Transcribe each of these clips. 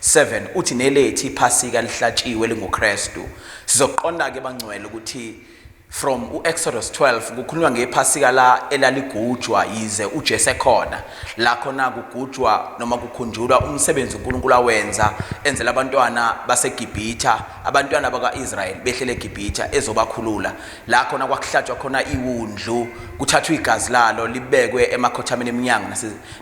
7 uthi nelethu iphasika elihlatshiwe elinguKristu. Sizoqonda ke bangcwele ukuthi from uExodus 12 kukhulunywa ngephasika la elaligujwa yize uJesu ekhona. La khona kugujwa noma kukhunjulwa umsebenzi uNkulunkulu awenza enzela abantwana baseGibhitha, abantwana bakaIsrael behlele eGibhitha ezobakhulula. La khona kwakuhlatshwa khona iwundlu, kuthathwa igazi lalo libekwe emakhothameni eminyango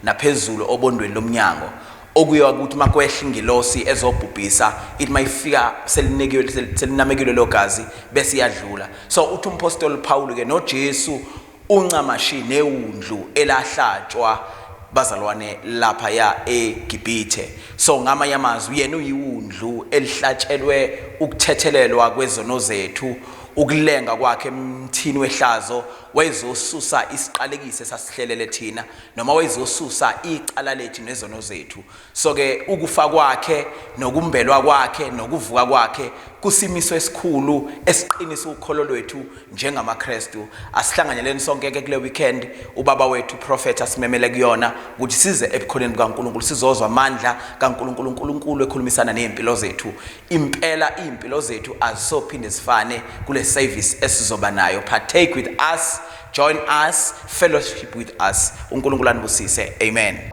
naphezulu obondweni lomnyango. Okuyiwa ukuthi uma kwehla ingilosi ezobhubhisa, ithi uma ifika selinekiwe, sel- selinamekile lelo gazi, bese iyadlula. So uthi umphostoli uPhawulu-ke noJesu uncamashi newundlu elahlatshwa bazalwane laphaya eGibhithe. So ngamanye amazwi, yena uyiwundlu elihlatshelwe ukuthethelelwa kwezono zethu, ukulenga kwakhe emthini wehlazo wayezosusa isiqalekiso esasihlelele thina. noma wayezosusa icala lethu nezono zethu so ke ukufa kwakhe nokumbelwa kwakhe nokuvuka kwakhe kusimiso esikhulu esiqinisa ukholo lwethu njengamaKristu asihlanganyeleni sonke ke kule weekend ubaba wethu prophet asimemele kuyona ukuthi size ebukhoneni bukaNkuluNkulu sizozwa amandla kaNkuluNkulu uNkuluNkulu ekhulumisana nezimpilo zethu impela izimpilo zethu azisophinde zifane kule service esizoba nayo partake with us Join us, fellowship with us. UNkulunkulu anibusise. Amen.